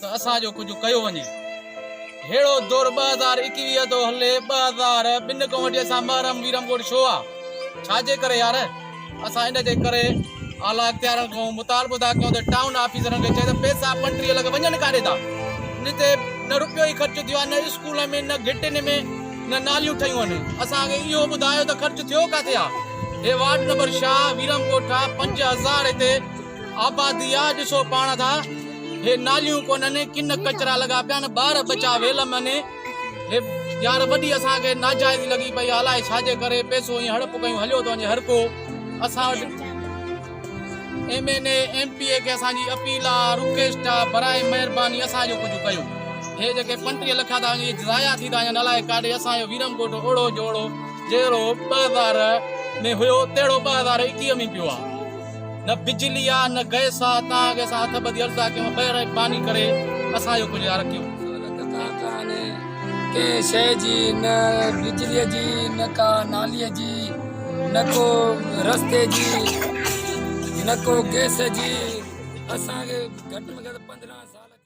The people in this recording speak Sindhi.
ته اسان جو ڪجهه ڪيو وڃي. ههڙو دور ٻه هزار ايڪويهه ٿو هلي ٻه هزار ٻن کان وٺي اسان محرم ويرم ڳوٺ ڇو آ ڇا جي ڪري يار اسان ان جي ڪري اعليٰ اختيارن کان مطالبو ٿا ڪيون ته ٽائون آفيسرن کي چئي ته پئسا پنٽريهه لک وڃن ڪاڏي ٿا ان تي نه روپيو ئي خرچ ٿيو آ نه اسڪولن ۾ نه گهٽين ۾ نه ناليون ٺهيون آهن اسان کي اهو ٻڌايو ته خرچ ٿيو ڪاٿي آ هي وارڊ نمبر شاهه ويرم ڳوٺ آ پنج هزار هتي آبادي آ ڏسو پاڻ ٿا هي ناليون ڪونهن ڪن ڪچرا لڳا پيا آهن ٻار ٻچا ويل م ني هي يار وڏي اسان کي ناجائز لڳي پئي الاء ڇا جي ڪري پئسو ائين هڙپ ڪيون هليو ٿو وڃي هر ڪو اسان وٽ M N A M P A کي اسان جي اپيل آ رڪويسٽ آ برائي مهرباني اسان جو ڪجهه ڪيو هي جيڪي 35 لک ٿا وڃي ضايع ٿي ٿا وڃن الاء ڪاڏي اسان جو ويرم ڪوٽ اوڙو جوڙو جهڙو 2000 ۾ هيو تهڙو 2021 ۾ پيو آ نه بجلي آ نه گئس آ تان اڳي اسان هٿ ٻڌي عرضا ڪيون خير ۽ پاني ڪري اسان جو ڪجهه يار ڪيون. سهولت ڪا ڪانهي ڪنهن شيء جي نه بجليء جي نه ڪا ناليء جي نه ڪو رستي جي نه ڪو گئس جي اسان کي گهٽ ۾ گهٽ پندرهن سال ٿي ويا.